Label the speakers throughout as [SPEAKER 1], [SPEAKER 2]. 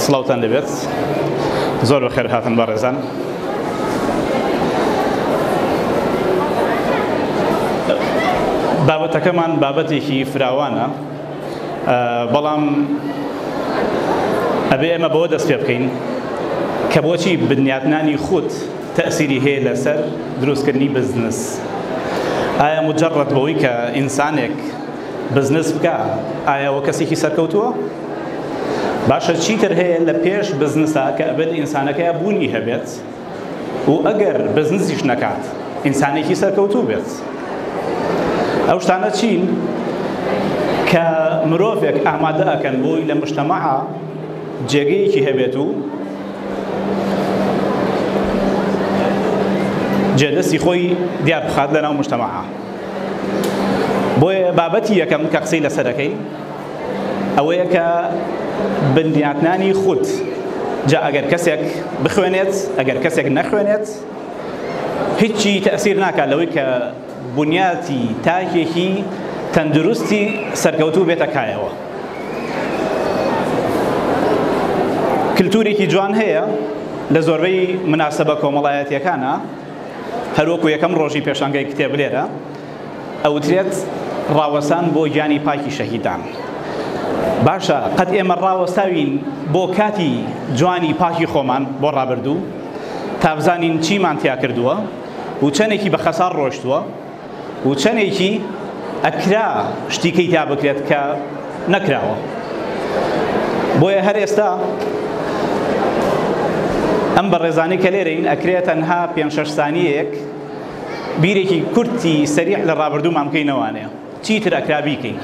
[SPEAKER 1] سڵاوتان لەبێت زۆر بە خێر هاتن بەڕێزان بابەتەکەمان بابەتێکی فراوانە بەڵام ئەبێ ئەمە بەوە دەست پێ بکەین کە بۆچی بنیاتنانی خود تەسیری هەیە لەسەر دروستکردنی بزنس ئایا مجرڕەت بەوەی کە ئینسانێک بزنس بکە ئایەوە کەسێکی سەرکەوتووە باشە چیتر هەیە لە پێش بزنسا کە ئەبێت ئینسانەکەیا بوونی هەبێت و ئەگەر بزنسیش نەکات ئینسانێکی سەرکەوتوو بێت ئەو شتانە چین کە مرۆڤێک ئامادە ئەکەن بۆی لە مشتەمەعا جێگەیەکی هەبێت و جێدەستی خۆی دیار بخات لەناو مشتەمەعا بۆیە بابەتی یەکەم کە قسەی لەسەرەکەی ئەوەیە کە بنیاتنانی خود جا ئەگەر کەسێک بخوێنێت ئەگەر کەسێک نەخوێنێت هیچی تەسیر ناکات لەوەی کە بنیاتی تاکێکی تەندروستی سەرکەوتوو بێتە کایەوە کللتورێکی جوان هەیە لە زۆربەی مناسبە کۆمەڵایەتیەکانە هەروەکو یەکەم ڕۆژی پێشانگەی کتێب لێرە ئەوترێت ڕاوەستان بۆ گیانی پاکی شەهیدان باشە قەت ئێمە ڕاوەستاوین بۆ کاتی جوانی پاکی خۆمان بۆ ڕابردوو تابزانین چیمان تیا کردووە و چەندێکی بە خەسار ڕۆشتووە و چەندێکی ئەکرا شتیکەی تا بکرێت کە نەکراوە بۆیە هەر ئێستا ئەم بەڕێزانانی کە لێرەین ئەکرێت تەنها پێ شەش سانیەک بیرێکی کورتی سەریع لە ڕابردوومان بکەین نەوانەیە چی تر ئەکرا بیکەین.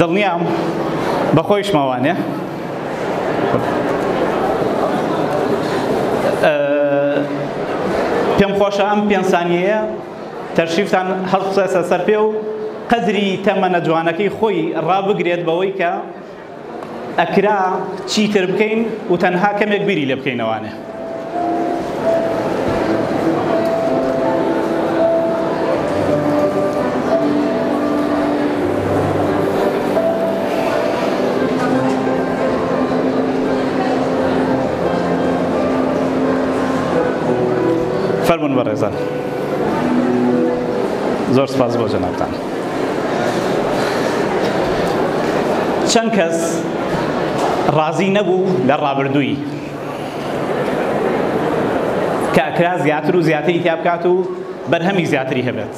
[SPEAKER 1] دڵنیام بەخۆیشمە وانێ پێم خۆشە ئەم پێنج سانیەیە تەرشیفتان هەڵبسێسە سەر پێ و قەدری تەمەنە جوانەکەی خۆی ڕابگرێت بەوەی کە ئەکرا چیتر بکەین و تەنها کەمێک بیری لێ بکەینەوانێ. فەرمون بەڕێزان زۆر سپاس بۆ جەنابتان. چەند کەس ڕازی نەبوو لە ڕابردووی کە ئەکرا زیاتر و زیاتری تیا بکات و بەرهەمی زیاتری هەبێت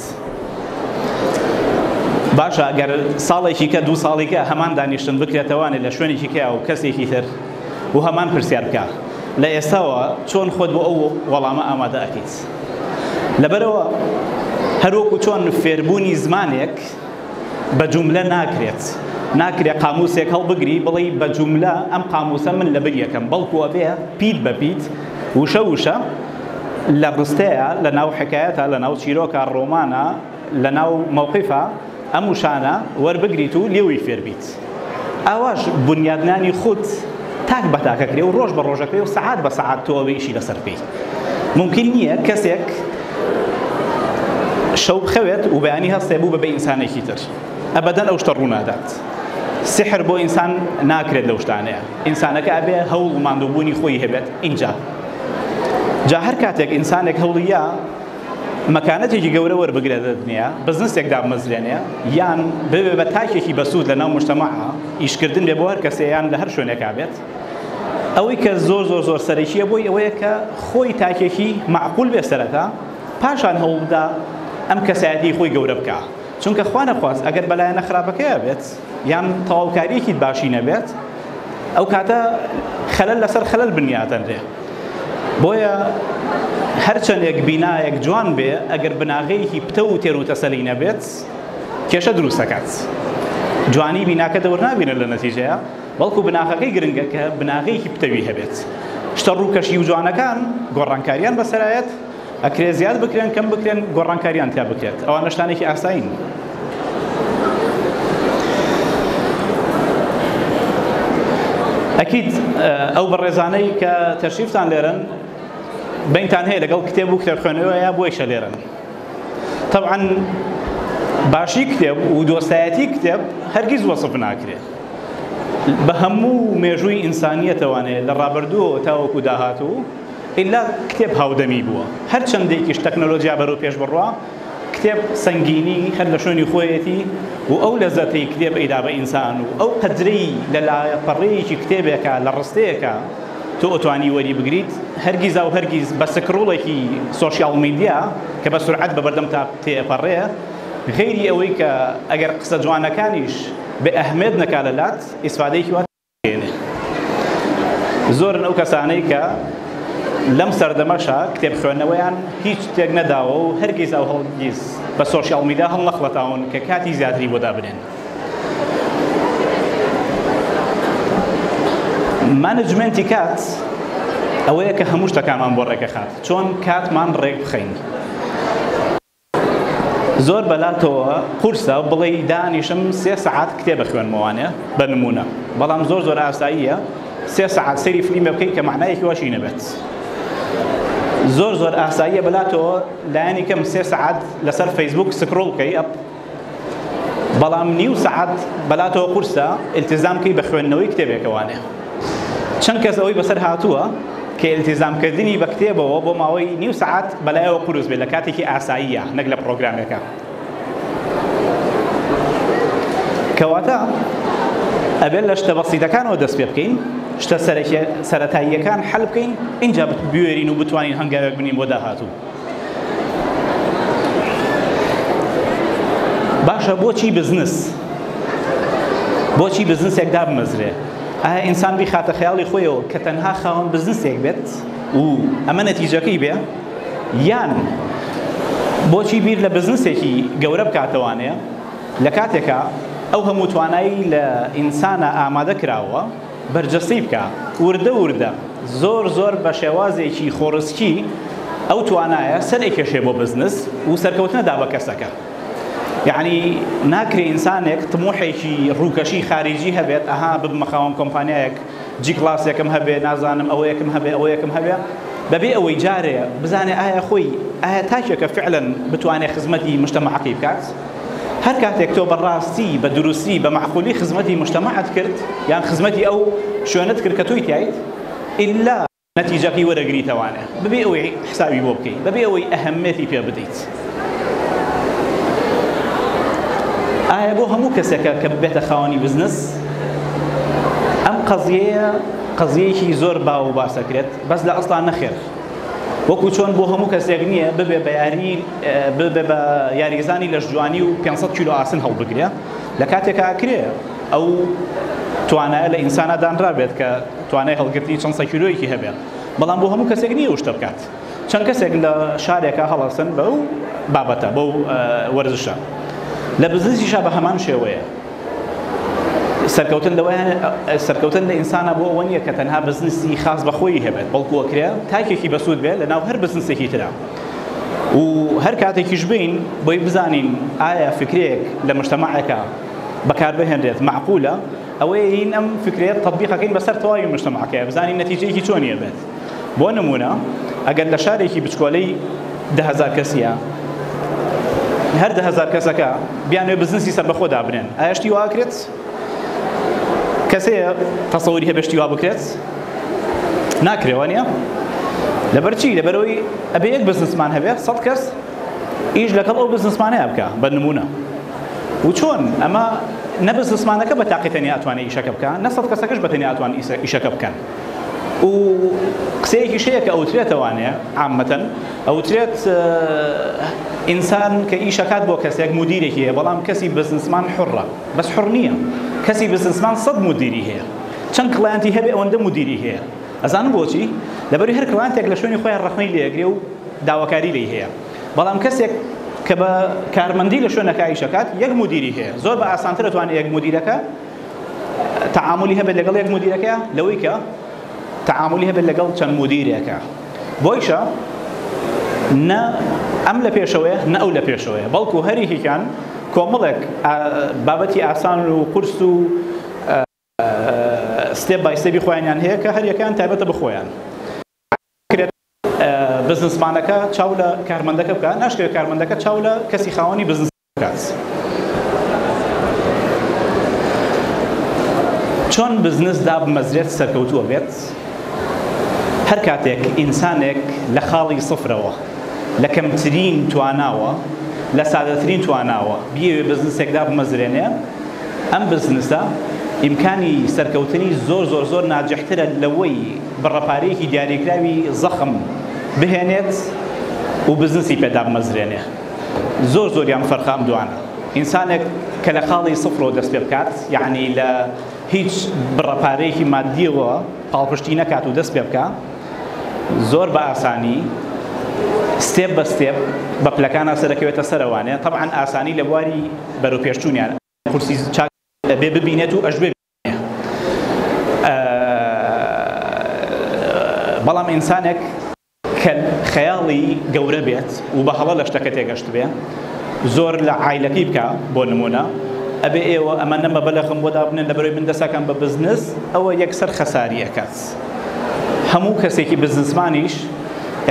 [SPEAKER 1] باشە ئەگەر ساڵێکی کە دوو ساڵی کە هەمان دانیشتن بکرێتەوانێت لە شوێنێکی کە و کەسێکی تر و هەمان پرسیار بکە لە ئێستاوە چۆن خۆت بۆ ئەو وەڵامە ئامادە ئەکەیت لەبەرئەوە هەروەکو چۆن فێربوونی زمانێک بە جوملە ناکرێت ناکرێت قاموسێک هەڵبگری بڵێ بە جوملە ئەم قاموسە من لە بر یەکەم بەڵکو ئەبێ پیت بە پیت وشە وشە لە ڕستەیە لە ناو حکایەتە لە ناو چیرۆکە ڕۆمانە لەناو مەوقیفە ئەم وشانە وەربگریت و لێوی فێربیت ئاواش بنیادنانی خود تاک بە تاکەکرێ و ڕۆژ بە ڕۆژەکەی و سەعات بە سەعات تۆ ئەوێ ئیشی لەسەر بکەیت ممکن نییە کەسێک شەو بخەوێت و بەیانی هەستێ بوو بە بە ئینسانێکی تر ئەبەدەن ئەو شتە ڕوونادات سحر بۆ ئینسان ناکرێت لەو شتانەیە ئینسانەکە ئەبێ هەوڵ ماندووبوونی خۆی هەبێت ئینجا جا هەر کاتێک ئینسانێک هەوڵیە مەکانەتێکی گەورە وەربگرێت لە دنیا، بزنسێک دابمەزرێنێ یان ببێ بە تاکێکی بەسوود لەناو موجتەمەع، ئیشکردن بێ بۆ هەر کەسێ یان لە هەر شوێنێکا بێت. ئەوەی کە زۆر زۆر زۆر سەرەکییە بۆی ئەوەیە کە خۆی تاکێکی مەعقول بێ سەرەتا، پاشان هەوڵ بدا ئەم کەسایەتیی خۆی گەورە بکا. چونکە خوانەخواست ئەگەر بە لایەنە خراپەکەیا بێت، یان تەواوکاریەکی باشی نەبێت ئەو کاتە خەلەل لەسەر خەلەل بنیاتەنرێ بۆیە هەرچەندێک بینایەک جوان بێ ئەگەر بناغەیەکی پتە و تێر و تەسەلی نەبێت کێشە دروست دەکات جوانی بیناکە دەور نابینە لە نەتیجەیە بەڵکو بناغەکەی گرنگە کە بناغەیەکی پتەوی هەبێت شتە ڕووکەشی و جوانەکان گۆڕانکاریان بەسەرایەت ئەکرێت زیاد بکرێن کەم بکرێن گۆڕانکاریان تیا بکرێت ئەوانە شتانێکی ئاسایین. ئەکید ئەو بەڕێزانەی کە تەشریفتان لێرن بینتان هەیە لەگەڵ کتێب و کتێبخوێنەوەیە بۆیشە لێرن طبعا باشی کتێب و دۆستایەتی کتێب هەرگیز وەسف ناکرێت بە هەموو مێژووی ئینسانیەتەوانێت لە ڕابردووەوە تاوەکو داهاتوو ئیلا کتێب هاودەمی بووە. هەر چەندێکیش تەکنۆلۆجیا بەرەو پێش بڕوا، کتێب سەنگینی هەر لە شوێنی خۆیەتی و ئەو لەزەتەی کتێب ئەیدا بە ئینسان و ئەو قەدرەی لە لاپەڕەیەکی کتێبێکا لە ڕستەیەکا تۆ ئەتوانی وەری بگریت هەرگیزاو هەرگیز بە سکڕوڵێکی سۆشیاڵ میدیا کە بە سورعەت بە بەردەمتا تێ ئەپەڕێ غەیری ئەوەی کە ئەگەر قسە جوانەکانیش بێ ئەهمێت نەکا لە لات ئیسفادەیەکی زۆرن ئەو کەسانەی کە لەم سەردەمەشا کتێب خوێندنەوەیان هیچ تێک نەداوە و هەرگیز ئەو هەڵگیز بە سۆشیاڵ میدیا هەڵنەخڵەتاون کە کاتی زیاتری بۆ دابنێن. مانجمێنتی کات ئەوەیە کە هەموو شتەکانمان بۆ ڕێکەخات چۆن کاتمان ڕێک بخەین. زۆر بەلاتەوە قورسە بڵێی دانیشم سێ سەعات کتێب بخوێنمەوە وانیە بە نموونە بەڵام زۆر زۆر ئاساییە سێ سەعات سەیری فلیمێ بکەیت کە مەعنایەکی واشی نەبێت زۆر زۆر ئاساییە بەلاتەوە لایەنی کەم سێ سەعات لەسەر فەیسبووک سکرۆڵ بکەی ئەپ بەڵام نیو سەعات بەلاتەوە قورسە التزام کەی بە خوێندنەوەی کتێبێکەوانێ چەند کەس ئەوەی بەسەر هاتووە کە التزام کردنی بە کتێبەوە بۆ ماوەی نیو سەعات بەلایەوە قورس بێت لە کاتێکی ئاساییە نەک لە پرۆگرامێکە کەواتە ئەبێت لە شتە بەسیتەکانەوە دەست پێ بکەین شتە سەرەتاییەکان حل بکەین اینجا بوێرین و بتوانین هەنگاوێک بنین بۆ داهاتوو باشە بۆچی بزنس بۆچی بزنسێک دابمەزرێ ئایا ئینسان بیخاتە خەیاڵی خۆیەوە کە تەنها خاوەن بزنسێک بێت و ئەمە نەتیجەکەی بێ یان بۆچی بیر لە بزنسێکی گەورە بکاتەوانەیە لە کاتێکا ئەو هەموو توانایی لە ئینسانە ئامادە کراوە بەرجەستەی بکە وردە وردە زۆر زۆر بە شێوازێکی خۆڕسکی ئەو توانایە سەر ئەکێشێ بۆ بزنس و سەرکەوتنە دا بە کەسەکە یعنی ناکرێ ئینسانێک تموحێکی ڕووکەشی خارجی هەبێت ئەها ببمە خاوەن کۆمپانیایەک جی کلاسێکم هەبێ نازانم ئەوەیەکم هەبێ ئەوەیەکم هەبێ بەبێ ئەوەی جارێ بزانێ ئایا خۆی ئایا تاکێکە فعلا بتوانێ خزمەتی مشتەمەعەکەی بکات هەر کاتێک تۆ بە ڕاستی بە دروستی بە مەعقولی خزمەتی موجتەمەعت کرد یان خزمەتی ئەو شوێنەت کرد کە تۆی تیایت ئیللا نەتیجەکەی وەرەگریتەوانە بەبێ ئەوەی حسابی بۆ بکەیت بەبێ ئەوەی ئەهەمێتی پێ بدەیت ئایا بۆ هەموو کەسێکە کە ببێتە خاوەنی بزنس ئەم قەزیەیە قەزیەیەکی زۆر باو و باسەکرێت بەس لە ئەسڵا نەخێر وەکو چۆن بۆ هەموو کەسێک نییە ببێ بە یاری ببێ بە یاریزانی لەشجوانی و 500 کیلو ئاسن هەڵبگرێ لە کاتێکا کرێ ئەو توانایە لە ئینسانا دانرابێت کە توانای هەڵگرتنی چەند سەکیلۆیەکی هەبێت بەڵام بۆ هەموو کەسێک نییە شتە بکات چەند کەسێک لە شارێکە هەڵەسن بە و بابەتە بەو وەرزشە لە بزنسیشە بە هەمان شێوەیە سەرکەوتن لەوە سەرکەوتن لە ئینسانە بۆ ئەوە نییە کە تەنها بزنسی خاص بە خۆی هەبێت بەڵکو ئەکرێ تاکێکی بەسوود بێت لەناو هەر بزنسێکی ترا و هەر کاتێکیش بین بۆی بزانین ئایا فکرێک لە مشتمەعەکە بەکار بهێنرێت معقولە ئەوەیە هین ئەم فکرەیە تطبیقەکەین بەسەر تەواوی مشتمەعەکە بزانین نەتیجەیەکی چۆنیە بێت بۆ نموونە ئەگەر لە شارێکی بچکۆلەی دە هەزار کەسیە هەر دە هەزار کەسەکە بیانێ بزنسی سەربەخۆ دابنێن ئاشتی واکرێت کەسەیە تەسەوری هەبشتی وا بکرێت ناکرێوە نیە لەبەرچی لەبەرەوەی ئەبێ یەک بزنسمان هەبێت سەد کەس ئیش لەگەڵ ئەو بزنسمانەیە بکە بە نمونە و چۆن ئەمە نە بزنسمانەکە بە تاقیتەنی ئەتوانێت ئیشەکە بکە نە سەد کەسەکەش بەتەنی ئەتوان ئیشەکە بکەن و قسەیەکیش هەیە کە ئەوترێتەوانێ عامەتەن ئەوترێت ئینسان کە ئیشەکات بۆ کەسێک مدیرێکی هەیە بەڵام کەسی بزنسمان حڕە بەس حڕ نییە کەسی بزنسمان سەد مدیری هەیە چەند کلانتی هەبێ ئەوەندە مدیری هەیە ئەزانم بۆچی لەبەری هەر کلانتێک لە شوێنی خۆیان ڕخنەی لێگرێ و داواکاری لی هەیە بەڵام کەسێک کە بە کارمەندی لە شوێنەکایشەکات یەک مدیری هەیە زۆر بە ئاسانتر توانێت یەک مدیرەکە تەعامولی هەبێت لەگەڵ یەک مودیرەکە لەوەی کە تەعامولی هەبێت لەگەڵ چەند مودیرێکە بۆیشە نە ئەم لە پێشەوەیە نە ئەو لە پێشەوەیە بەڵکو هەریکیان کۆمەڵێک بابەتی ئاسان و قورس و ستێپ بای ستێپی خۆیانیان هەیە کە هەریەکان تایبەتە بخۆیان بزنسمانەکە چاو لە کارمەندەکە بکە ناشکرێت کارمەندەکە چاو لە کەسی خاوەنی بزنس بکات چۆن بزنس دابمەزرێت سەرکەوتووە بێت هەرکاتێک ئینسانێک لە خاڵی سفرەوە لە کەمترین تواناوە لە سادەترین تواناوە بیەوێ بزنسێک دابمەزرێنێ ئەم بزنسە ئیمکانی سەرکەوتنی زۆر زۆر زۆر ناجحترە لەوەی بڕەپارەیەکی دیاریکراوی زەخم بهێنێت و بزنسی پێدابمەزرێنێ زۆر زۆریان فەرقە ئەم دوانە. ئینسانێک کە لە خاڵی سفرەوە دەست پێ بکات، یەعنی لە هیچ بڕە پارەیەکی ماددیەوە پاڵپشتی نەکات و دەست پێ بکا، زۆر بە ئاسانی ستێپ بە ستێپ بە پلەکان هەستە دەکەوێتە سەرەوانێ، تەبعەن ئاسانی لە بواری بەرەوپێشچوونیان. قورسی چاک ئەبێ ببینێت و ئەشبێ بەڵام ئینسانێک کە خەیاڵی گەورە بێت و بە هەڵە لە شتەکە تێگەشتبێ زۆر لە عایلەکەی بکا بۆ نموونە ئەبێ ئێوە ئەمە نەمە بەلەخم بۆ دابنێن لە بەرەوەی من دەسەکەم بە بزنس ئەوە یەکسەر خەساری ئەکات هەموو کەسێکی بزنسمانیش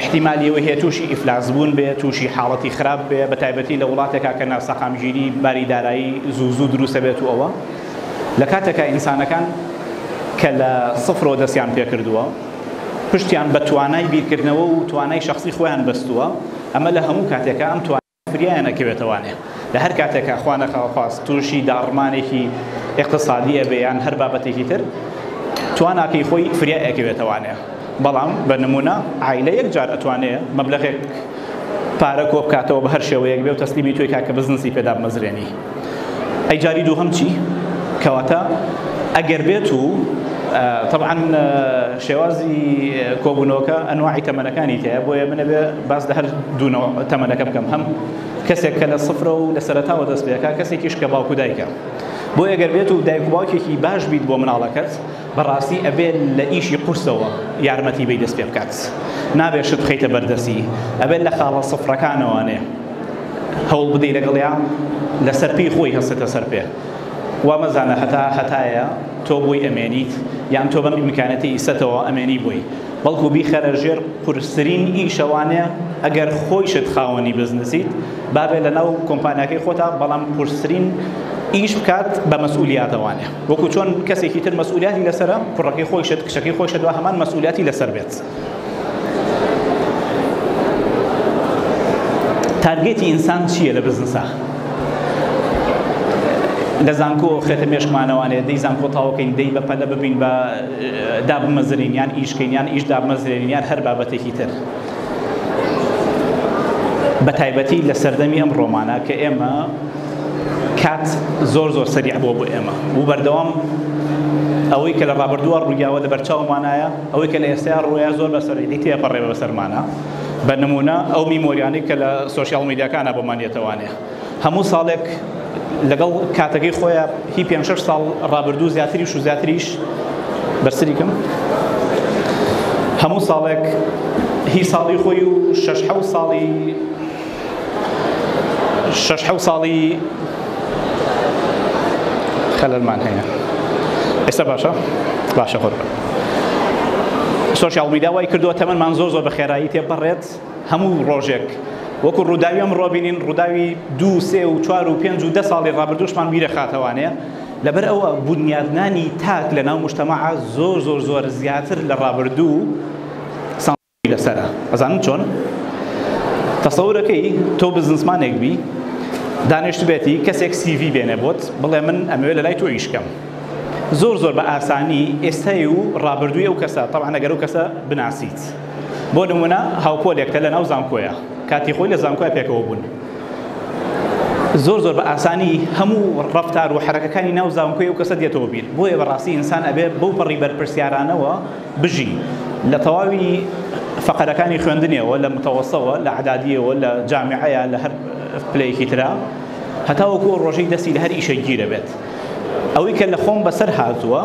[SPEAKER 1] احتیمال ئەوە هەیە تووشی ئیفلاس بوون بێ تووشی حاڵەتی خراپ بێ بە تایبەتی لە وڵاتێکا کە ناسەقامگیری باری دارایی زوو زوو دروستە بێت و ئەوە لە کاتێکا ئینسانەکان کە لە سفرەوە دەستیان پێکردووە، پشتیان بە توانای بیرکردنەوە و توانای شەخسی خۆیان بەستووە، ئەمە لە هەموو کاتێکا ئەم توانایە فریایان ئەکەوێتە وانێ. لە هەر کاتێکا خوا نەکاوەخواست تووشی داڕمانێکی ئیقتسادی ئەبێ یان هەر بابەتێکی تر، تواناکەی خۆی فریای ئەکەوێتە وانێ. بەڵام بە نموونە عایلە یەک جار ئەتوانێ مەبلەغێک پارە کۆ بکاتەوە بە هەر شێوەیەک بێ و تەسلیمی تۆی کاکە بزنسی پێ دابمەزرێنی. ئەی جاری دووهەم چی کەواتە ئەگەر بێت و طبعا شێوازی کۆبوونەوەکە ئەنواعی تەمەنەکانی تەیە بۆیە منە بێ باس لە هەر دوونەوە تەمەنەکە بکەم هەم کەسێک کە لە سفرە و لە سەرتاوە دەست پێەکە کەسێکیش کە باوکو دایکە بۆ ئەگەر بێت و دایک باوکێکی باش بیت بۆ مناڵەکەت بەڕاستی ئەبێ لە ئیشی قورسەوە یارمەتی بەی دەست پێ بکات نابێ شت بخەیتە بەردەستی ئەبێ لە خاڵە سفرەکانەوانێ هەوڵ بدەی لەگەڵیا لەسەر پێی خۆی هەستێتە سەر پێ وا مەزانە هەتا هەتایە تۆ بۆی ئەمێنیت یان تۆ بەم ئیمکانەتی ئیسەتەوە ئەمێنی بۆی بەڵکو بیخەرە ژێر قورسترین ئیشەوانێ ئەگەر خۆیشت خاوەنی بزنسیت بابێ لەناو کۆمپانیاکەی خۆتا بەڵام قورسترین ئیش بکات بە مەسئولیاتەوانێ وەکو چۆن کەسێکی تر مەسئولیاتی لەسەرە کوڕەکەی خۆیشت کچەکەی خۆیشت وا هەمان مەسئولیاتی لەسەر بێت تارگێتی ئینسان چییە لە بزنسا لە زانکۆ خێتە مێشکمانەوانێ دەی زانکۆ تاوکەین دەی بە پەلە ببین بە دابمەزرین یان ئیشکەین یان ئیش دابمەزرێنین یان هەر بابەتێکی تر بە تایبەتی لە سەردەمی ئەم ڕۆمانە کە ئێمە کات زۆر زۆر سەریع بووە بۆ ئێمە و بەردەوام ئەوەی کە لە ڕابردووە ڕوویاوە لە بەرچاومانایە ئەوەی کە لە ئێستایا ڕوویە زۆر بە سەرعی تێپەڕێ بە بەسەرمانە بە نمونە ئەو میمۆریانەی کە لە سوسیال میدیاکانە بۆمان یەتەوانێ هەموو ساڵێک لەگەڵ کاتەکەی خۆیە هی پێ شش ساڵ ڕابردوو زیاتریش و زیاتریش بەرسریکم هەموو ساڵێک هی ساڵی خۆی و شش حەوت ساڵی شەش حەو ساڵی خەلەلمان هەیە ئێستا باشە باشە خۆر سۆشیال میدا وای کردووە تەمەمان زۆر زۆر بە خێرایی تێپەڕێت هەموو ڕۆژێک وەکو ڕووداوی ئەم ڕۆبینین ڕووداوی دو سێ و چوار و پێنج و دە ساڵی ڕابردوشمان بیرە خاتەوانەیە لەبەر ئەوە بنیادنانی تاک لە ناو مشتەمەعە زۆر زۆر زۆر زیاتر لە ڕابردوو لەسەرە ئەزانم چۆن تەسەورەکەی تۆ بزنسمانێک بی دانیشتبێتی کەسێک سیڤی بێنێ بۆت بڵێ من ئەمەوێ لە لای تۆ ئیشکەم زۆر زۆر بە ئاسانی ئێستای و ڕابردووی ئەو کەسە تەوان نەگەر و کەسە بناسیت بۆ نمونە هاوپۆلێکتە لە ناو زانکۆیە کاتی خۆی لە زانکۆی پێکەوە بوون زۆر زۆر بە ئاسانی هەموو ڕفتار و حرەکەەکانی ناو زانکۆی و کەسە دێتەوە بیر بۆیە بەڕاستی ئینسان ئەبێ بەو پەڕی بەرپرسیارانەوە بژی. لە تەواوی فەقەرەکانی خوێندنیەوە لە متەوەسەوە لە عەدادیەوە لە جامیعەیا لە هەر پلەیەکی ترا هەتاوەکو ئەو ڕۆژەی دەستی لە هەر ئیشێک گیرەبێت ئەوەی کە لە خۆم بەسەر هاتووە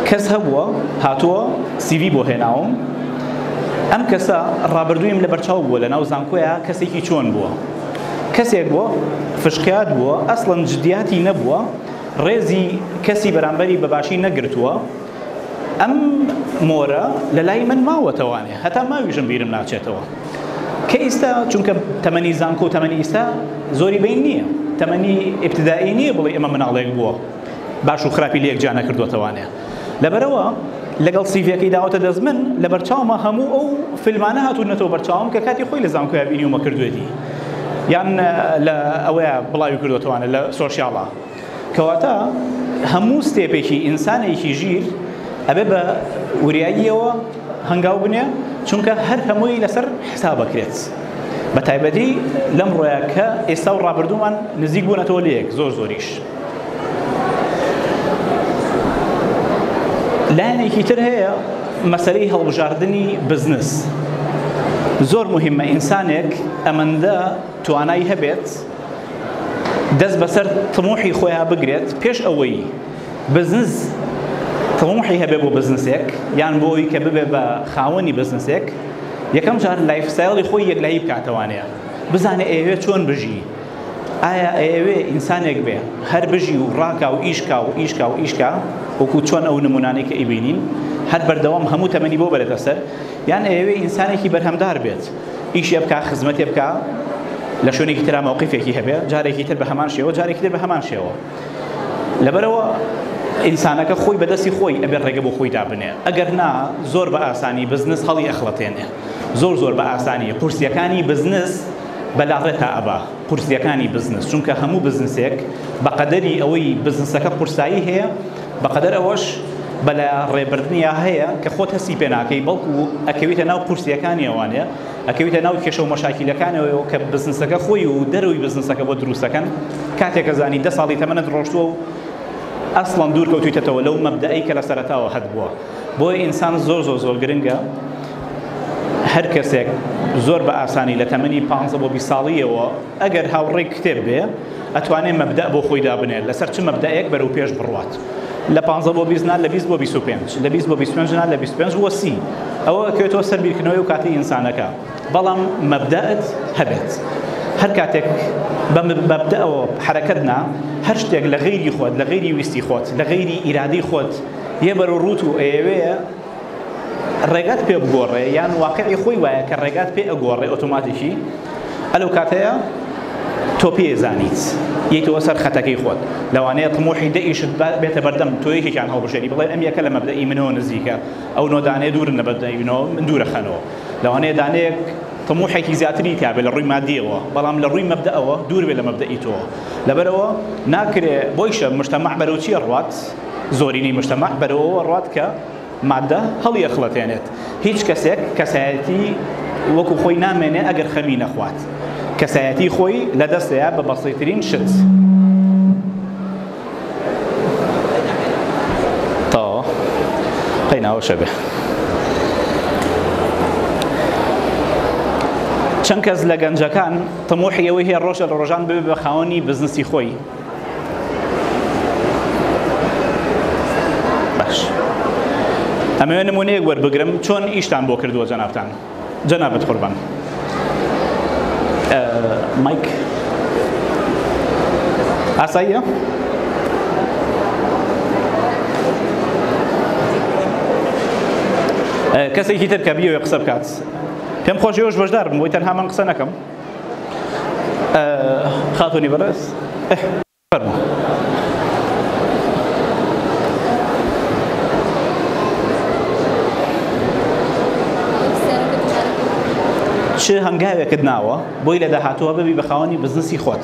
[SPEAKER 1] کەس هەبووە هاتووە سیڤی بۆ هێناوم ئەم کەسە ڕابردوویم لە بەرچاو بووە لە ناو زانکۆیا کەسێکی چۆن بووە کەسێک بووە فشقیات بووە ئەسڵەن جدیاتی نەبووە ڕێزی کەسی بەرامبەری بەباشی نەگرتووە ئەم مۆرە لە لای من ماوەتەوانێ هەتا ماویژم بیرم ناچێتەوە کە ئیستا چونکە تەمەنی زانکۆ و تەمەنی ئیستا زۆری بین نییە تەمەنی ئبتدایی نییە بڵێ ئەمە مناڵێک بووە باش و خراپی لەیەک جا نەکردوەتەوانێ لەبەرەوە لەگەڵ سیڤەکەی داوەتە دەست من لە بەرچاومە هەموو ئەو فیلمانە هاتوونەتەوە بەرچاوم کە کاتی خۆی لە زانکۆیا بینیومە کردوێتی یان لە ئەوەیە بڵاوی کردوەتەوانە لە سۆشیاڵە کەواتە هەموو ستێپێکی ئینسانێکی ژیر ئەبێ بە وریاییەوە هەنگاو بنێ چونکە هەر هەمووی لەسەر حسابەکرێت بە تایبەتی لەم ڕۆیا کە ئێستا و ڕابردوومان نزیک بوونەتەوە لەیەک زۆر زۆریش لایەنێکی تر هەیە مەسەری هەڵبژاردنی بزنس زۆر مهمە ئینسانێک ئەمەندە توانای هەبێت دەست بەسەر تموحی خۆیان بگرێت پێش ئەوەی بزنس تموحی هەبێ بۆ بزنسێک یان بۆ ئەوی کە ببێ بە خاوەنی بزنسێک یەکەم جار لایف ستایڵی خۆی یەکلایی بکاتەوانەیە بزانێ ئەوێ چۆن بژی ئایا ئەوێ ئینسانێک بێ هەر بژی و ڕاکا و ئیشکا و ئیشکا و ئیشکا وەکو چۆن ئەو نمونانەی کە ئیبینین هەر بەردەوام هەموو تەمەنی بۆ بەرێتە سەر یان ئەوێ ئینسانێکی بەرهەمدار بێت ئیشێ بکا خزمەتێ بکا لە شوێنێکی تررا مەوقفێکی هەبێ جارێکی تر بە هەمان شێوە جارێکی تر بە هەمان شێوە لەبەرەوە ئینسانەکە خۆی بەدەستی خۆی ئەبێ ڕێگە بۆ خۆی دابنێ ئەگەر نا زۆر بە ئاسانی بزنس هەڵی ئەخڵەتێنێ زۆر زۆر بە ئاسانی قورسیەکانی بزنس بەلاڕێتا ئەبا قورسیەکانی بزنس چونکە هەموو بزنسێک بەقەدەری ئەوەی بزنسەکە قورسایی هەیە بەقەدەر ئەوەش بەلا ڕێبردنیا هەیە کە خۆت هەستی پێ ناکەی بەڵکو ئەکەویتە ناو قورسیەکانی ئەوانێ ئەکەویتە ناو کێشەو مەشاکیلەکانەوەیەوە کە بزنسەکە خۆی و دەرەوەی بزنسەکە بۆ دروستەکەن کاتێک ئەزانی دە ساڵی تەمەنت ڕۆشتووە و ئەسڵەن دوور کەوتویتەتەوە لەو مەبدەئەی کە لە سەرەتاوە هەتبووە بۆیە ئینسان زۆر زۆر زۆر گرنگە هەر کەسێک زۆر بە ئاسانی لە تەمەنی پانزە بۆ بیست ساڵیەوە ئەگەر هاوڕێی کتێب بێ ئەتوانێ مەبدەئ بۆ خۆی دابنێ لەسەر چ مەبدەئێک بەرەو پێش بڕوات لە پانزە بۆ بیست نا لە بیست بۆ بیست و پێنج لە بیست بۆ بیست و پێنج نا لە بیست و پێنج بۆ سی ئەوە ئەکەوێتەوە سەر بیرکردنەوەی و کاتی ئینسانەکە بەڵام مەبدەئت هەبێت هەر کاتێک بە مەبدەئەوە حەرەکەت نا هەر شتێک لە غەیری خۆت لە غەیری ویستی خۆت لە غەیری ئیرادەی خۆت یە بەرەو ڕووت و ئەیەوێ ڕێگات پێ بگۆڕێ یان واقعی خۆی وایە کە ڕێگات پێ ئەگۆڕێ ئۆتۆماتیکی ئەلو کاتەیە تۆ پێ زانیت یەیتەوە سەر خەتەکەی خۆت لەوانەیە تمۆحی دەئیشت بێتە بەردەم تۆ یەکێکیان هەڵبژێری بڵێ ئەم یەکە لە مەبدەئی منەوە نزیکە ئەو نۆ دانێ دوورن لە بەدەینەوە من دوورە خەنەوە لەوانەیە دانەیەک تموحێکی زیاتری تابێت لە ڕووی مادیەوە بەڵام لە ڕووی مەبدەەوە دوور بێ لە مەبدەئی تۆ لەبەرەوە ناکرێ بۆیشە مشتەمەع بەرەوچیە ڕات زۆرینەی مجتمع بەرەوەوە ڕوات کە ماددە هەڵیەخڵەتێنێت. هیچ کەسێک کەسایەتی وەکو خۆی نامێنێ ئەگەر خەمی نەخوات. کەسایەتی خۆی لە دەستەیە بە بەسیترین شت. چەند کەس لە گەنجەکان تموحی ئەوەی هەیە ڕۆژە لە ڕۆژان ببێ بە خاوەنی بزنسی خۆی. باش ئەمەوێ نمونەیەک وەربگرم چۆن ئیشتان بۆ کردووە جەنابتان جەنابت قوربان مایک ئاساییە کەسێکی تر کە بیەوێ قسە بکات پێم خۆش ێوش بەشدار بم بۆی تەنها من قسە نەکەم خاتونی بەڕێز چ هەنگاوێکت ناوە بۆی لە داهاتووە ببی بە خاوەنی بزنسی خۆت؟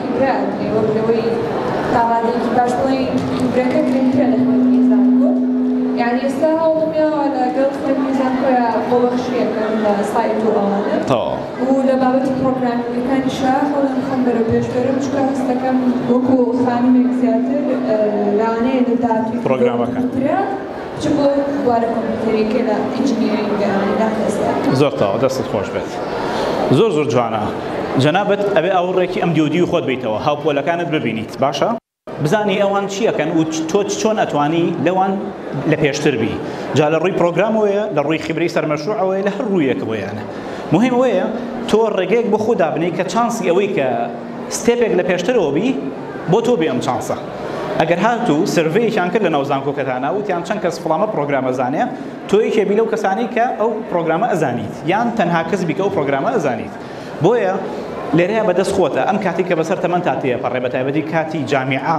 [SPEAKER 2] کرابێ وەک لەوەی تا ڕادەیەکی باش بڵێین دوورەکە گرنگترە لە خوێندنی زانکۆ یانی ئێستا هەوڵم یاوە لە گەڵ خوێندنی زانکۆیا خۆبەخشی ئەکەم لە سایت و ئەوانە تەواو. و لە
[SPEAKER 1] بابەتی
[SPEAKER 2] پڕۆگرامینگەکانیشا هەوڵی خۆم بەرەو پێش بەرم چونکە هەستەکەم وەکو خانمێک زیاتر لەوانەیە لە داهاتووی پڕۆگرامەکان.
[SPEAKER 1] چ بۆ بوارە
[SPEAKER 2] کۆمپیوتەریەکە لە ئینجینیرینگە لەم ئێستا؟ زۆر تاوا دەستت
[SPEAKER 1] خۆش بێت زۆر زۆر جوانە جەنابەت ئەبێ ئاوڕێکی ئەم دیودی و خۆت بیتەوە هاوپۆلەکانت ببینیت باشە بزانی ئەوان چیەکەن و تۆ چۆن ئەتوانی لەوان لە پێشتر بی جا لە ڕووی پرۆگرامەوەیە لە ڕووی خبری سەرمەشروعەوەی لە هەر ڕوویەکەوەیانە مهم وەیە تۆ ڕێگەیەک بۆ خۆ دابنی کە چانسی ئەوەی کە ستێپێک لە پێشترەوە بی بۆ تۆ بێ ئەم چانسە ئەگەر هاتوو سرڤەیەکیان کرد لە ناو زانکۆکەتانە وتیان چەند کەس فڵانە پرۆگرامە زانێ تۆ یەکێ بی لەو کەسانی کە ئەو پرۆگرامە ئەزانیت یان تەنها کەس بی کە ئەو پرۆگرامە ئەزانیت بۆیە لێرەیە بەدەست خۆتە ئەم کاتی کە بەسەر تەمەن تا تێپەڕێ بە تایبەتی کاتی جامیعە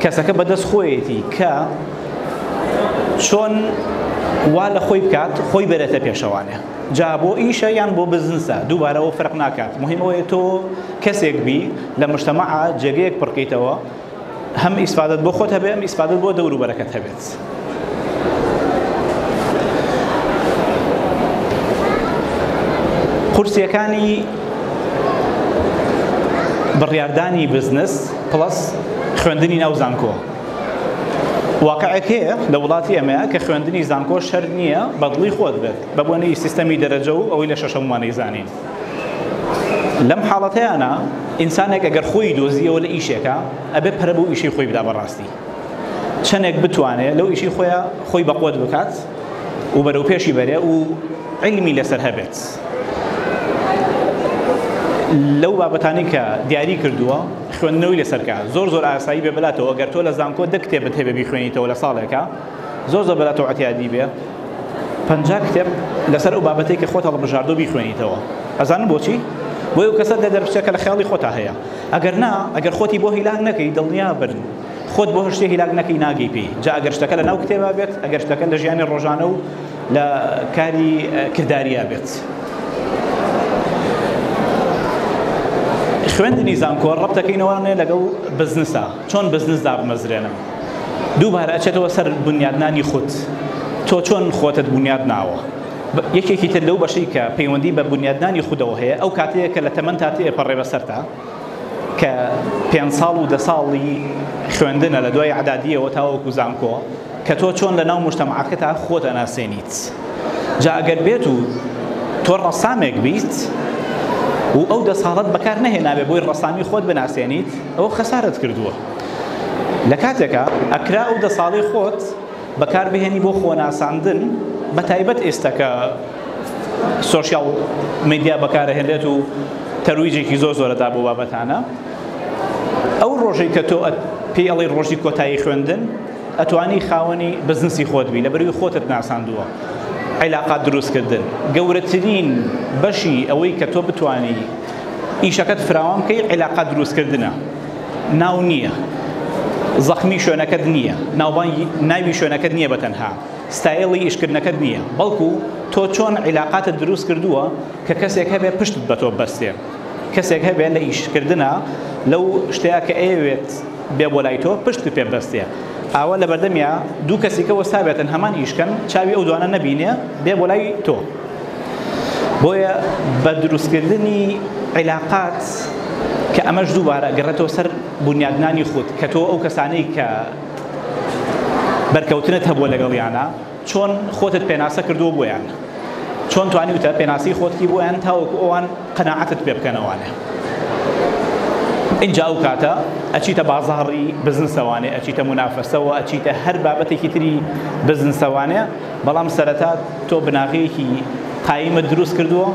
[SPEAKER 1] کەسەکە بەدەست خۆیەتی کە چۆن وا لە خۆی بکات خۆی بەرێتە پێشەوانێ جا بۆ ئیشە یان بۆ بزنسە دووبارەوە فەرق ناکات مهمەوەی تۆ کەسێک بی لە مشتەمەعە جێگەیەک پڕکەیتەوە هەم ئیسفادت بۆ خۆت هەبێ ئەم ئیسفادت بۆ دەوروبەرەکەت هەبێت قورسییەکانی بڕیاردانی بزنس پڵەس خوێندنی ناو زانکۆ واقعێک هەیە لە وڵاتی ئەمەیە کە خوێندنی زانکۆ شەر نییە بەدڵی خۆت بێت بە بۆنەی سیستەمی دەرەجە و ئەوەی لە شەشەموانەی زانین لەم حاڵەتەیانە ئینسانێک ئەگەر خۆی دۆزیەوە لە ئیشێکە ئەبێ پەرە بۆ ئیشی خۆی بدا بەڕاستی چەنێک بتوانێ لەو ئیشی خۆیا خۆی بەقوەت بکات و بەرەو پێشی بەرێ و علمی لەسەر هەبێت لەو بابەتانی کە دیاری کردووە خوێندنەوەی لەسەرکە زۆر زۆر ئاسایی بێ بلاتەوە گەر تۆ لە زانکۆ دە کتێبت هەبێ بیخوێنیتەوە لە ساڵێکە زۆر زۆر بلاتەوە عتیادی بێ پنج کتێب لەسەر ئەو بابەتی کە خۆت هەڵبژاردو بیخوێنیتەوە ئەزان بۆچی بۆی و کەسە دە دەرفچەکە لە خیاڵی خۆتا هەیە ئەگەر نا ئەگەر خۆتی بۆ هیلاک نەکەی دڵنیا بن خۆت بۆ شتێ هیلاک نەکەی ناگەی پێی جا ئەگەر شتەکە لە ناو کتێبا بێت ئەگەر شتەکە لە ژیانی ڕۆژانە و لە کاری کرداریا بێت خوێندنی زانکۆ ڕەبتەکەینەوەێ لەگەڵ بزنسە چۆن بزنس دابمەزرێنم دووبارە ئەچێتەوە سەر بنیادنانی خودت تۆ چۆن خۆتت بنیاد ناوە یەکێکی تر لەو بەشەی کە پەیوەندی بە بنیادنانی خودەوە هەیە ئەو کاتەیە کە لە تەمەنتا تێپەڕێ بەسەرتا کە پێنج ساڵ و دە ساڵی خوێندنە لە دوای عدادیەوە تاوەکو زانکۆ کە تۆ چۆن لە ناو مشتەماکەتا خۆت ئەناسێنیت جا ئەگەر بێت و تۆ ڕەسامێک بیت و ئەو دە ساڵت بەکار نەهێنابێ بۆی ڕسامی خۆت بناسێنیت ئەو خەسارت کردووە لە کاتێکە ئەکرا ئەو دە ساڵی خۆت بەکار بهێنی بۆ خۆناساندن بە تایبەت ئێستا کە سۆشیال میدیا بەکارهێنێت و تەرویجێکی زۆر زۆرەدا بۆ بابەتانە ئەو ڕۆژەی کە تۆ پێی ئەڵی ڕۆژی کۆتایی خوێندن ئەتوانی خاوەنی بزنسی خۆت بی لە بەروی خۆتت ناساندووە عیلاقات دروستکردن گەورەترین بەشی ئەوەی کە تۆ بتانی ئیشەکەت فراوان بکەی عیلاقات دروستکردنە ناو نییە زەخمی شوێنەکەت نییە ناوبانگی ناوی شوێنەکەت نییە بە تەنها ستایڵی ئیشکردنەکەت نییە بەڵکو تۆ چۆن عیلاقاتت دروست کردووە کە کەسێک هەبێ پشتت بە تۆ بەستێ کەسێک هەبێ لە ئیشکردە لەو شتەیە کە ئەیەوێت بێ بۆ لای تۆ پشت پێ بەستێ ئاوە لە بەردەمیا دوو کەسیکە وەستابێتن هەمان ئیشکەن چاوی ئەو دوانە نەبینێ بێ بۆ لای تۆ بۆیە بە دروستکردنی عیلاقات کە ئەمەش دووبارە گەڕێتەوە سەر بنیادنانی خود کە تۆ ئەو کەسانەی کە بەرکەوتنت هەبووە لەگەڵیانە چۆن خۆتت پێناسە کردووە بۆیان چۆن توانیوتە پێناسی خۆتکی بۆیان تاوەکو ئەوان قەنەعەتت پێ بکەنەوانێ اینجا ئەو کاتە ئەچیتە بازاڕی بزنسەوانێ ئەچیتە منافەسەوە ئەچیتە هەر بابەتێکی تری بزنسەوانێ بەڵام سەرەتا تۆ بناغەیەکی قایمت دروست کردووە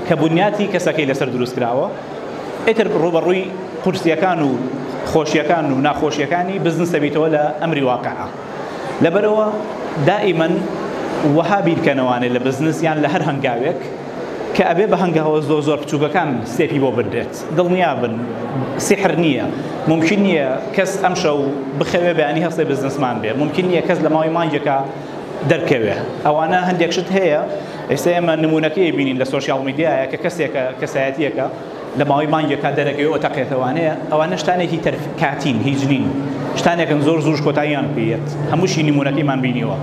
[SPEAKER 1] کە بنیاتی کەسەکەی لەسەر دروست کراوە ئیتر ڕووبەڕووی قورسیەکان و خۆشیەکان و ناخۆشیەکانی بزنس دەبیتەوە لە ئەمری واقعە لەبەرەوە دائیمەن وەها بیرکەنەوانێ لە بزنس یان لە هەر هەنگاوێک کە ئەبێ بە هەنگاوە زۆر زۆر بچووکەکان سێپی بۆ بنرێت دڵنیا بن سحر نییە ممکن نییە کەس ئەمشەو بخەوێ بەیانی هەستێ بزنسمان بێ ممکن نییە کەس لە ماوەی مانگێکە دەرکەوێ ئەوانە هەندێک شت هەیە ئێستا ئێمە نمونونەکەی بینین لە سوۆسیال میدیایە کە کەسێکە کەسایەتیەکە لە ماوەی مانگێک تا دەرەکەوە تەقێتەوانەیە ئەوانە شتانێکی تەر کاتین هیچ نین شتانێکن زۆر زوش کۆتاییان پێت هەمووشی نمونونەکەیمان بینیوە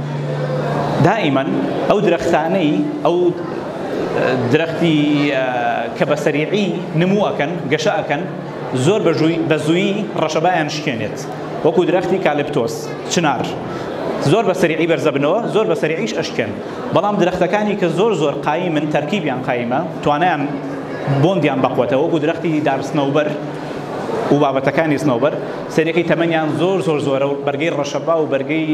[SPEAKER 1] دائیمەن ئەو درەختانەی ئەو درەختی کە بە سەریعی نمووەکەن گەشەکەن زۆر بە زوویی ڕەشەبایان شکێنێت وەکو درەختی کالپتۆس، چنار، زۆر بە سەریعی بەرزەبنەوە زۆر بە سەریعیش ئەشکێن بەڵام درەختەکانی کە زۆر زۆر قایمن تەرکیبیان قایمە توانایان بۆندیان بەقوەتە وەکو درەختی دار سنەوبەر و بابەتەکانی سنەوبەر سەریعی تەمەنیان زۆر زۆر زۆرە و بەرگەی ڕەشەبا و بەرگەی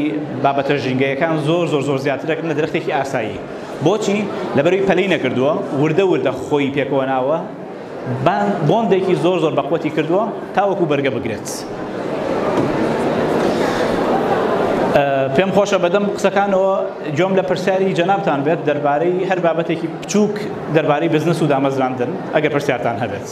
[SPEAKER 1] بابەتە ژینگەیەکان زۆر زۆر زۆر زیاترەکن لە درەختێکی ئاسایی بۆچی لەبەروی پەلی نەکردووە وردە وردە خۆی پێکەوە ناوە بۆندێکی زۆر زۆر بەقوەتی کردووە تاوەکو بەرگە بگرێت پێم خۆشە بەدەم قسەکانەوە جۆم لە پرسیاری جەنابان بێت دەربارەی هەر بابەتێکی بچووک دەربارەی بزنس و دامەزراندن ئەگە پرسیارتان هەبێت.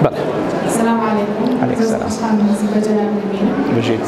[SPEAKER 1] بەڵێ. السلام علیکم.
[SPEAKER 3] علیکم
[SPEAKER 1] السلام.
[SPEAKER 3] بژیت.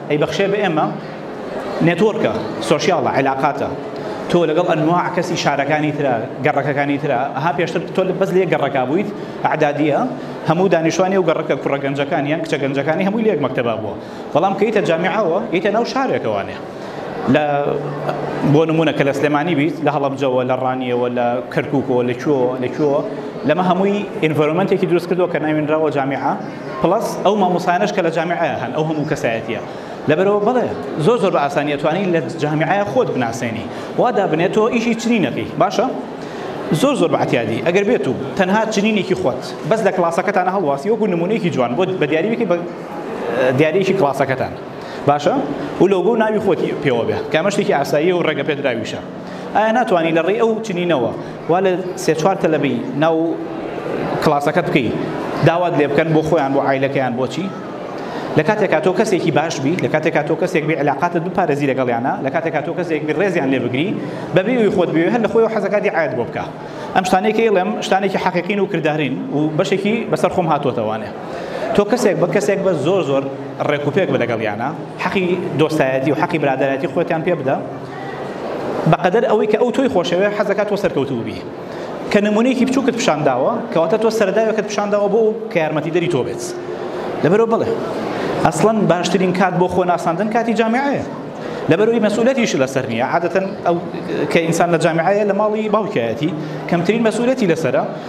[SPEAKER 1] ئەیبەخشێ بە ئێمە نێتۆرکە سۆشیاڵە علاقاتە تۆ لەگەڵ ئەنواع کەسی شارەکانی ترا گەڕەکەکانی ترا ها پێشتر تۆ لە بەس لێ گەڕەکە بوویت عدادیە هەموو دانیشتوانی و گەڕەکە کوڕە گەنجەکان یان کچە گەنجەکانی هەمووی لێک مەکتەبا بووە بەڵام کەیتە جامیعەوە یتە ناو شارێکەوانێ لە بۆ نمونە کە لە سلێمانی بیت لە هەڵبجەوە لە ڕانیەوە لە کەرککەوە لە کوێەوە لە کوێەوە لەمە هەمووی ئینڤۆرمنتێکی دروست کردەوە کە ناوێنراوە جامیعە پڵەس ئەو مامۆستایانەش کە لە جامیعەیە هەن ئەو هەموو کەسایەتییە لەبەرەوە بەڵێ زۆر زۆر بە ئاسانی ئەتوانی لە جامیعەیە خۆت بناسێنی وا دابنێ تۆ ئیشی چنینەکەی باشە زۆر زۆر بە عەتیادی ئەگەر بێت و تەنها چنینێکی خۆت بەس لە کڵاسەکەتانە هەڵواسی وەکو نمونەیەکی جوان بۆ بە دیاریەکی بە دیارێکی کڵاسەکەتان باشە و لۆگۆ و ناوی خۆتی پێوە بێ کامە شتێکی ئاسایی و ڕێگە پێدراویشە ئایا ناتوانی لە ڕێی ئەو چنینەوە وا لە سێ چوار تەلەبەی ناو کڵاسەکەت بکەی داوات لێ بکەن بۆ خۆیان بۆ عیلەکەیان بۆچی لە کاتێکا تۆ کەسێکی باش بی لە کاتێکا تۆ کەسێک بێ علاقاتت بپارێزی لەگەڵیانە لە کاتێکا تۆ کەسێک بی ڕێزیان لێ بگری بەبێ وی خۆت بێ هەر لە خۆی و حەزەکاتی عاد بۆ بکە ئەم شتانێکی ئێڵێم شتانێکی حەقیقین و کردارین و بەشێکی بەسەر خۆم هاتوۆتەوانێ تۆ کەسێک بە کەسێک بە زۆر زۆر ڕێکوپێک بە لەگەڵیانە حەقی دۆستایەتی و حەقی برادایەتی خۆتیان پێ بدە بەقەدەر ئەوەی کە ئەو تۆی خۆشەوێ حەز دەکات تۆ سەرکەوتوو بی کە نمونەیەکی بچووکت پیشان داوە کەواتە تۆ سەرداوێکت پیشان داوە بۆ کە یارمەتی دەری تۆ بێت لەبەرەوە بڵێ ئەسڵەن باشترین کات بۆ خۆ ناساندن کاتی جامعەیە لەبەرەوەی مەسئولەتیش لەسەر نییە عادەتەن ئەو کە ئینسان لە جامعەیە لە ماڵی باوکایەتی کەمترین مەسئولەتی لەسرە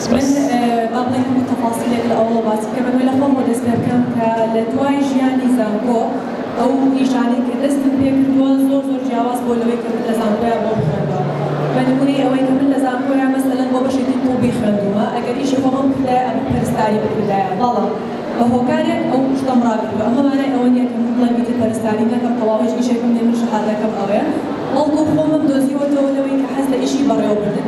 [SPEAKER 4] من با بڵێین هەموو تەفاسیلێک لە ئەوەوە باس بکەم، ئەگەر لە خۆمەوە دەست پێ بکەم کە لە دوای ژیانی زانکۆ ئەو ئیشانەی کە دەستم پێ کردووە زۆر زۆر جیاواز بووە لەوەی کە من لە زانکۆیا بۆ بخوێندەوە بە نموونەی ئەوەی کە من لە زانکۆیا مەسەلەن بۆ بەشێکی طوبی خوێندوومە ئەگەر ئیشی خۆمم بکردایە ئەبوو پەرستاری بکردایە بەڵام بە هۆکارێک ئەو شتەم ڕاگرتووە ئەمە مانای ئەوە نییە کە من بڵێم ئیتر پەرستاری نەکەم تەواو هیچ ئیشێکم نییە من شەهادەکەم ئەوەیە بەڵکوو خۆمم دۆزیوەتەوە لەوەی کە حەز لە ئیشی بەڕێوەبردن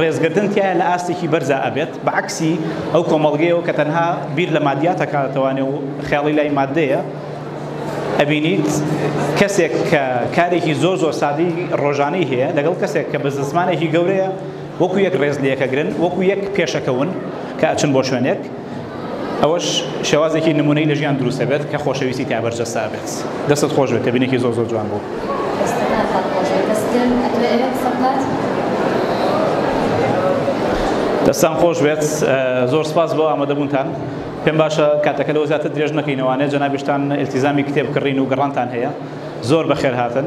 [SPEAKER 1] ڕێزگرتن تیایا لە ئاستێکی بەرزا ئەبێت بە عەکسی ئەو کۆمەڵگەیەوە کە تەنها بیر لە مادیات ئەکاتەوانێ و خەیاڵی لای ماددەیە ئەبینیت کەسێک کە کارێکی زۆر زۆر سادەی ڕۆژانەی هەیە لەگەڵ کەسێک کە بزنسمانێکی گەورەیە وەکو یەک ڕێز لە یەکەگرن وەکو یەک پێشەکەون کە ئەچن بۆ شوێنێک ئەوەش شێوازێکی نمونەی لە ژیان دروست دەبێت کە خۆشەویستی تا بەرجەستا بێت دەستت خۆش بێت تەبینێکی زۆر زۆر جوان بوو دەستان خۆش بێت زۆر سپاس بۆ ئامادەبوونتان پێم باشە کاتەکە لەوە زیاتر درێژ نەکەینەوانێ جەنابیشتان ئلتیزامی کتێب کڕین و گەڕانتان هەیە زۆر بەخێر هاتن.